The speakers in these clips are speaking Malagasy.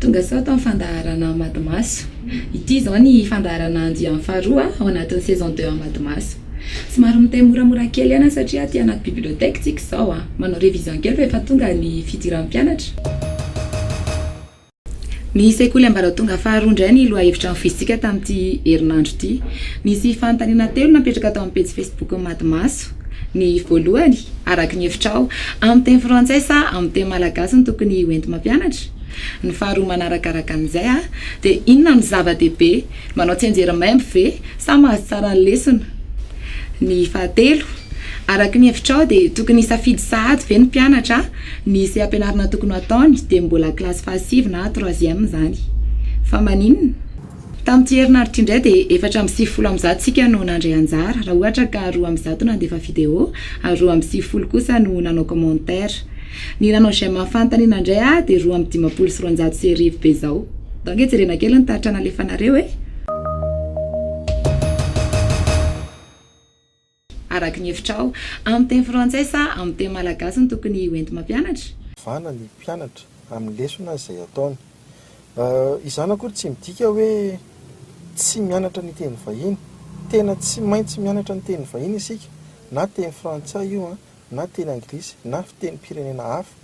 Tonga sao tamin'ny fandaharana Amadimaso. Ity izao ny fandaharana andiany faharoa ao anatin'ny saison deux Amadimaso. Somary miteny moramora kely aina satria aty anaty bibliothèque tsika izao a! Manao révision kely fa efa tonga ny fidiran'ny mpianatra. Ny sekoly ambaratonga faharoa indray ny lohahevitra nofoizintsika tamin'ity herinandro ity. Nisy fanontaniana telo napetraka tao amin'ny pejy Facebook-n'i Madimaso. Ireto ny voalohany, araka ny hevitrao, amin'ny teny frantsay sa amin'ny teny malagasy no tokony ho enti-mampianatra? Ny faharoa manarakaraka an'izay dia inona no zava-dehibe? Manao tsianjery maimbo ve sa mahazo tsara ny lesona? Ny fahatelo, araka ny hevitrao dia tokony hisafidy sahady ve ny mpianatra ny seha-pianarana tokony ho ataony dia mbola kilasy fahasivy na troisième izany? Fa maninona? Tamin'ity herinaritra ity indray dia efatra amby sivifolo amin'ny zato isika no nandray anjara, raha ohatra ka roa amby zato nandefa video ary roa amby sivifolo kosa no nanao commentaire. Ny nanao j'aime amin'ny fanontaniana indray aho dia roa amby dimampolo sy roanjato sy arivo be izao. Ndao ange jerena kely ny taratra nalefanareo e! Araka ny hevitrao, amin'ny teny frantsay sa amin'ny teny malagasy no tokony hoenti-mampianatra? Vana ny mpianatra amin'ny lesona izay ataony. Izany akory tsy midika hoe tsy mianatra ny teny vahiny. Tena tsy maintsy mianatra ny teny vahiny isika, na teny frantsay io, na teny anglisy, na fitenim-pirenena hafa.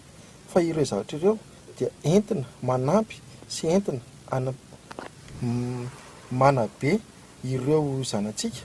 Fa ireo zavatra ireo dia entina manampy sy entina manabe ireo zanatsika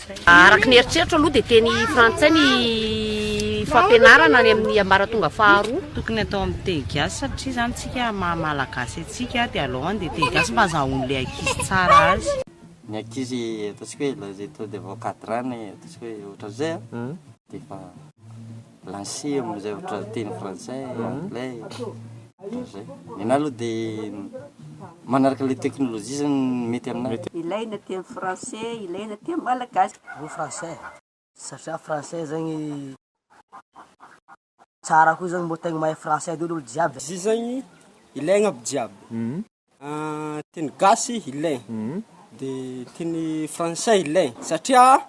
Araka ny eritreritro aloha dia teny frantsay ny fampianarana any amin'ny ambaratonga faharoa. Tokony atao amin'ny teny gasy satria zany tsika maha malagasy antsika dia alohan dia teny gasy mba azahoan le ankizy tsara azy. Ny ankizy ataontsika hoe l'âge est tôt de vos quatre ans na ataontsika hoe ohatran'izay an dia efa. Lancer amin'ny zavatra teny frantsay, anglais, ohatran'izay. Ny anà aloha dia manaraka ilay teknolojia izany no mety aminà. Ilaina teny frantsay, ilaina teny malagasy. Aleo frantsay satria frantsay zany tsara koa zany mbô tegna mahay frantsay daholo olo jiaby. Izy io zany ilaigna aby jiaby. Teny gasy ilaina, dia teny frantsay ilaina, satria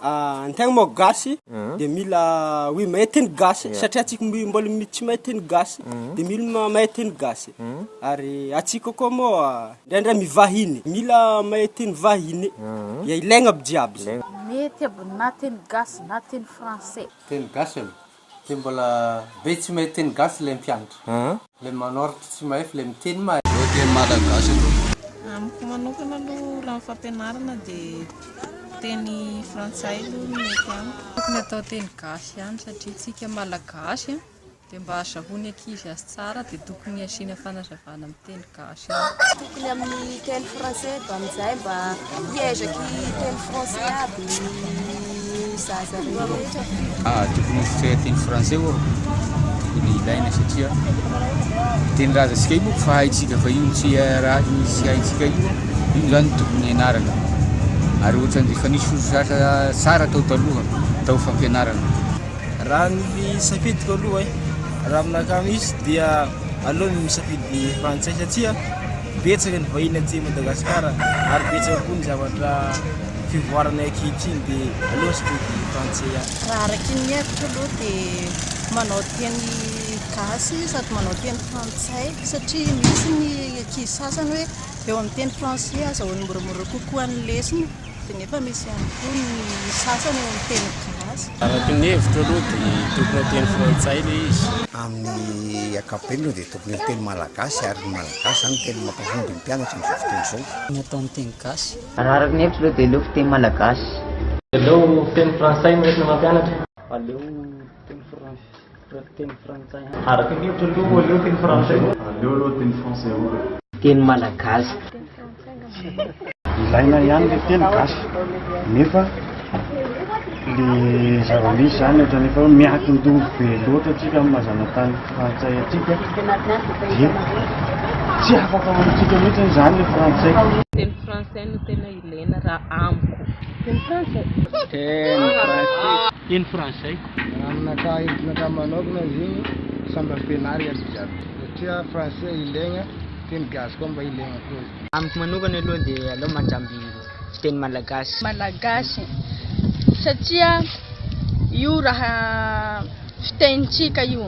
an-tegna moa gasy de mila hoe mahay teny gasy satria antsika mbo- mbola mi- tsy mahay teny gasy de mila ma- mahay teny gasy, ary antsika koa moa ndraindray mivahiny mila mahay teny vahiny, dia ilaigna aby jiaby zay. Mety aby na teny gasy na teny frantsay. Teny gasy aloha. Dia mbola be tsy mahay teny gasy ilay mpianatra. Ilay manoratra tsy mahay fa ilay miteny mahay. Ireo teny malagasy ireo. Amiko manokana aloha raha ny fampianarana dia teny frantsay aloha no mety amiko. Tokony atao teny gasy ihany satria tsika malagasy dia mba azahoan'ny ankizy azy tsara dia tokony asiana fanazavana amin'ny teny gasy. gasy any. Tokony amin'ny teny français eto amin'izay mba hiezaka hiteny français aby ny zaza rehetra. Tokony ho fiteny français ô tokony ilaina satria tenin-drazantsika io moa fahaintsika fa io tsy haintsika io io zany tokony hianarana ary ohatran'ny efa nisy fototr'asa tsara tao taloha tao fampianarana. Raha ny safidiko aloha e, raha aminakahy misy dia. aloha ny misafidy frantsay satsia betsaka ny vahiny aty Madagasikara ary betsaka koa ny zavatra fivoarana ankehitriny dia aloha safidy frantsay ihany. Raha araky ny hevitro aloha dia manao teny gasy sady manao teny frantsay satria misy ny ankizy sasany hoe eo amin'ny teny frantsay aza vao moramora kokoa ny lesona. dia nefa misy ihany koa ny sasany ao amin'ny teny gasy. Araka ny hevitro aloha dia tokony ho teny frantsay ilay izy. Amin'ny ankapobeny aloha dia tokony ho teny malagasy ary ny malagasy izany no teny mampahomby ny mpianatra amin'izao fotoana izao. Ny atao amin'ny teny gasy. Raha araka ny hevitro aloha dia aleoko teny malagasy. Aleo teny frantsay no entina mampianatra. Aleo teny frantsay. Reko teny frantsay an. Araka ny hevitro aloha aleo teny frantsay. Aleo aloha teny français aloha. Teny malagasy. Teny frantsay angamba. Ilaina ihany le teny gasy nefa le zava-misy zany ohatrany efa hoe miankin-doha be loatra atsika amin'ny maha zanatany frantsay atsika dia tsy afaka ao amintsika mihitsy zany le frantsay. Teny français no tena ilaina. Lena ra amiko. Teny frantsay. Teny frantsay. Teny frantsay. Aminakahy hevitr'nakahy manokana izy igny samby ampianaro iaby jiaby satria frantsay ilaigna, teny gasy koa mba ilaigna koa izy. Amiko manokana aloha dia aleo mandramby fiteny malagasy. Malagasy satria io raha fitenintsika io.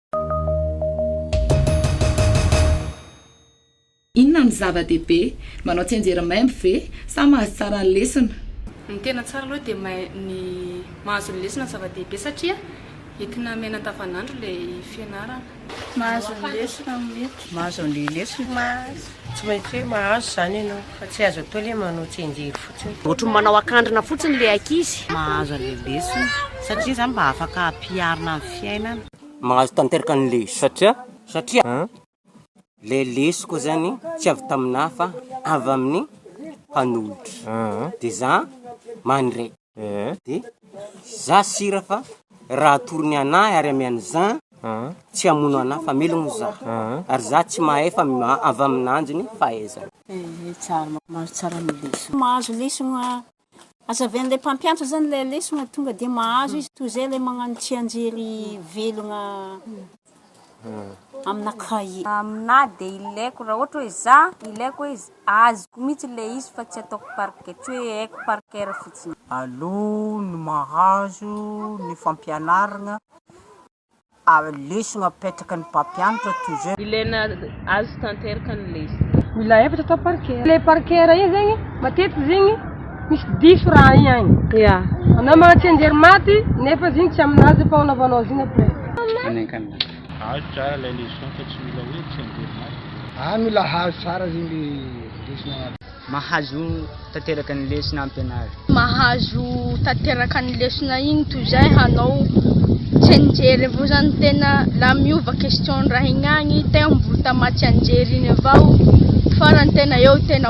Inona no zava-dehibe? Manao tsianjery maimbo ve sa mahazo tsara ny lesona? Ny tena tsara aloha dia ny mahazo ny lesona no zava-dehibe satria entina miaina andavanandro ilay fianarana. Mahazo ny lesona no mety. Mahazo ny lesona. Mahazo. Tsy maintsy hoe mahazo izany ianao fa tsy azo atao ilay manao tsenjery fotsiny. Ohatry ny manao akandrina fotsiny ilay ankizy. Mahazo an'ilay lesona satria izany mba afaka hampiharina amin'ny fiainana. Mahazo tanteraka ny lesona. Satria? Satria ilay lesoko izany tsy avy tamin'ahy fa avy amin'ny mpanolotra. Dia izaho mandray. de za sira fa raha atory ny anah ary amy any za tsy hamono anah fa melogno za ary za tsy mahay fa avy aminanjy ny fahaizana. Mahazo lesogno a, azavy an'le mpampiantra zany le lesogno tonga de mahazo izy toy zay le magnano tsianjery velogna amina cahier. Aminà dia ilaiko raha ohatra hoe za ilaiko hoe azoko mihitsy ilay izy fa tsy ataoko par cœur, tsy hoe haiko par cœur fotsiny. Aloha ny mahazo ny fampianaragna, lesona apetraka ny mpampianatra toy izao. Ilaina azo tanteraka ny lesona. Mila efatra atao par cœur. Ilay par cœur io zegny, matetika zegny. Misy diso raha igny agny. Ya. Anao magnatsia ndery maty nefa izy igny tsy aminazy fa anaovanao azy igny après. Any an-kanina. Azo tsara ilay leçon fa tsy mila hoe tsia ndery maty. Ah mila hahazo tsara zay le lesona agnaty. Mahazo tanteraka ny lesona ampianary. Mahazo tanteraka ny lesona igny toy zay hanao tsianjery avao zany tena la miova question ny raha igny agny tegna mbola tamatsianjery igny avao farany tena eo tena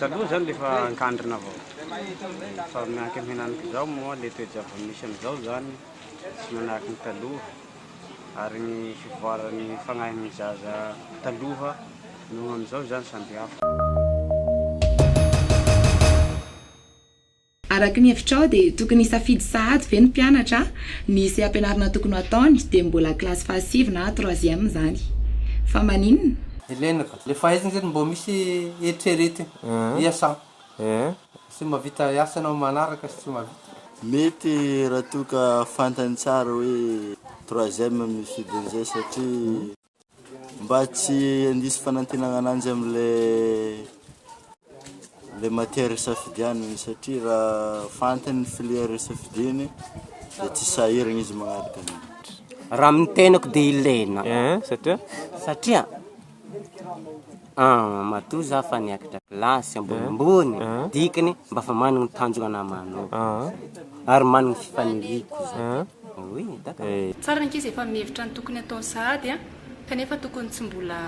Taloha zany le efa ankandrina avao fa mianky am henaniko izao moa le toe-javatra misy amizao zany tsy manahaka ny taloha ary ny fivoaran'ny fagnahin'ny zaza taloha noho amizao zany samby hafa. Araka ny hevitrao dia tokony hisafidy sahady ve ny mpianatra ny seha-pianarana tokony ho ataony dia mbola kilasy fahasivy na troisième izany? Fa maninona? Ilaina ka. Le fahaizana zany mbô misy eritreretina hiasa sy mahavita hiasa anao manaraka sy tsy mahavita. Mety raha toa ka fantany tsara hoe troisième ny fidiny zay satria. Mba tsy handiso fanantenana ananjy amin'ilay matière isafidianany satria raha fantany ny filière isafidiany dia tsy sahirana izy manaraka an'iny. Raha amin'ny tenako dia ilaina satria An! matoa za fa niakatra kilasy ambonimbony, dikany mba fa manana ny tanjona manaovako ary manana ny fifaniriako izany. Oui, d'accord. Tsara ny ankizy efa mihevitra ny tokony hataony sahady an! kanefa tokony tsy mbola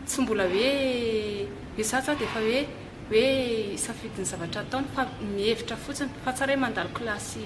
tsy mbola hoe hoe za za dia efa hoe hoe hisafidy ny zavatra ataony fa mihevitra fotsiny fa tsara hoe mandalo kilasy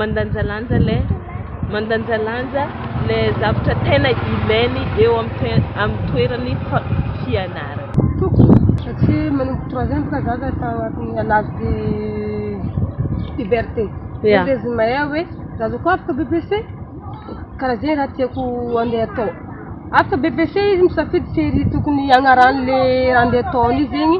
mandanjalanja ilay mandanjalanja ilay zavatra tena ilainy eo amin'ny toerany fianarana. Tokony satria manomboka troisième boka zaza efa agnatin'ny à l'âge de puberté. Yeah. Dia izy mahay hoe zaza koa afaka BPC karaha zegny raha tiako andeha atao. Afaka BPC izy misafidy serie tokony agnarany le raha andeha ataony zegny.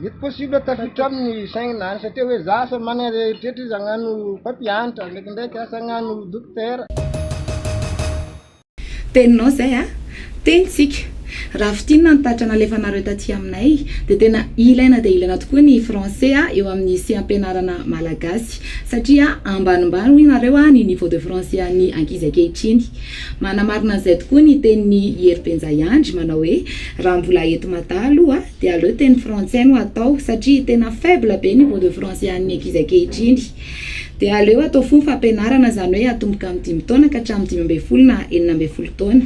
Mety possible tafiditra aminy ny saigny na any satria hoe za asa managna zay eritreritry izy agnano mpampianatra ndraikindraiky asa agnano dokotera. Teninao zay a! Tenintsika! Raha fintinina ny tatitra nalefanareo taty aminay dia tena ilaina dia ilaina tokoa ny français eo amin'ny sehampianarana malagasy satria ambanimbany hoy nareo ny niveau de français an'ny ankizy ankehitriny. Manamarina an'izay tokoa ny tenin'i Hery Benjahiandry manao hoe raha mbola eto Mada aloha Dia aleo teny frantsay no atao satria tena faible be niveau de français an'ny ankizy ankehitriny. Dia aleo atao fohy ny fampianarana izany hoe atomboka amin'ny dimy taona ka hatramin'ny dimy ambin'ny folo na enina ambin'ny folo taona.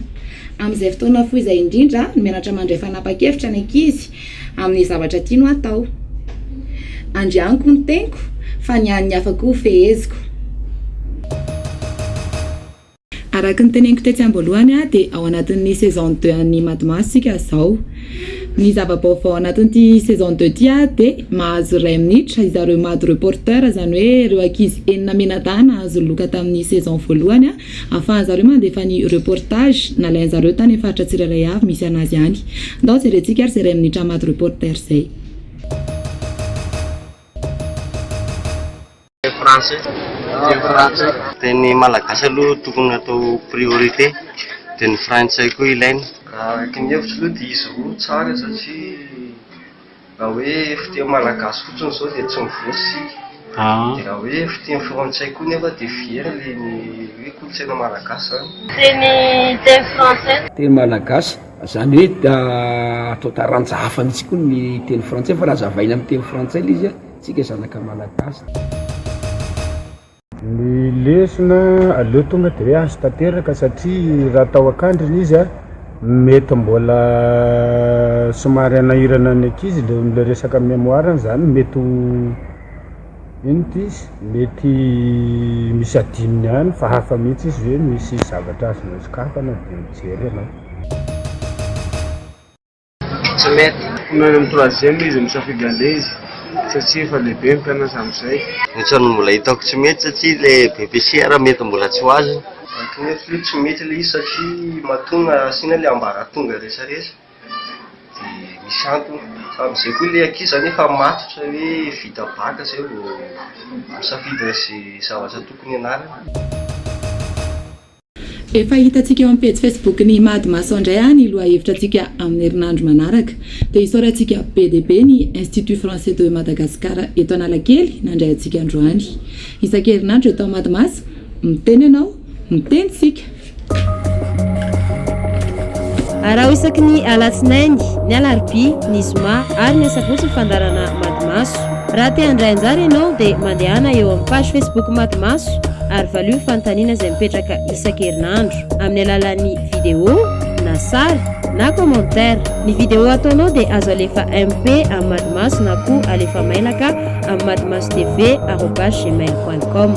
Amin'izay fotoana fohy izay indrindra no mianatra mandray fanapan-kevitra ny ankizy amin'ny zavatra tiany ho atao. Andrianiko ny teniko fa ny an'ny hafa koa ho feheziko. Araka ny teneniko tetsy am-boalohany dia ao anatin'ny saison deux an'ny Madmas isika izao. Ny zava-baovao ao anatin'ity saison deux ity dia mahazo iray minitra izaho ireo Mado Reporter, izany hoe ireo ankizy enina mianadahy nahazo loka tamin'ny saison voalohany ahafahan'ny zareo mandefa ny reportage nalain'ny zareo tany amin'ny faritra tsirairay avy misy an'azy any. Andao jerentsika ary izay iray minitra Mado Reporter izay. Teny frantsay, teny frantsay. Teny malagasy aloha tokony atao priorité dia ny frantsay koa ilaina. Araka ny hevitro aloha dia izy roa no tsara satria raha hoe fiteny malagasy fotsiny izao dia tsy mivoatra isika. Dia raha hoe fiteny frantsay koa nefa dia very ilay ny hoe kolontsaina malagasy izany. Teny teny frantsay. Teny malagasy, izany hoe atao taranja hafa mihitsy koa ny teny frantsay fa raha azavaina amin'ny teny frantsay ilay izy a. tsika zanaka malagasy. Ny lesona aleo tonga de hoe azo tanteraka satria raha tao an-kandrina izy a mety mbola somary hanahirana ny ankizy le le resaka mémoire-ny zany mety ho ino ty izy mety misy adinony any fa hafa mihitsy izy hoe misy zavatra azonao sokafana de mijery ianao. Tsy mety. Omeo any amin'ny troisième izy misafidy andeha izy satsia efa lehibe ny mpianatra amin'izay. Ohatran'ny mbola hitako tsy mety satsia ilay BPCR mety mbola tsy ho azony. Mety mety aloha tsy mety ilay izy satria matoa na asiana ilay ambaratonga resaresa dia misy antony fa amin'izay koa ilay ankizy zany efa matotra hoe vita bac izay vao misafidy an'izay zavatra tokony hianarany. Efa hitantsika eo amin'ny pejy Facebook ny Imad Mason indray an ny lohahevitra antsika amin'ny herinandro manaraka. Dia isaorantsika be dia be ny Institut Français de Madagascar eto Analakely nandray antsika androany. Isan-kerinandro eto Imad Mason, miteny ianao, miteny isika. Araho isaky ny Alatsinainy, ny Alarobia, ny Zoma ary ny Asabotsy ny fandaharana Imad Mason. Raha te handray anjara ianao dia mandehana eo amin'ny page Facebook Maty Maso ary valio ny fanontaniana izay mipetraka isan-kerinandro amin'ny alalan'ny vidéo na sary na commentaire. Ny vidéo ataonao dia azo alefa MP amin'ny Maty Maso na koa alefa mailaka amin'ny matymasotv arobase gmail point com.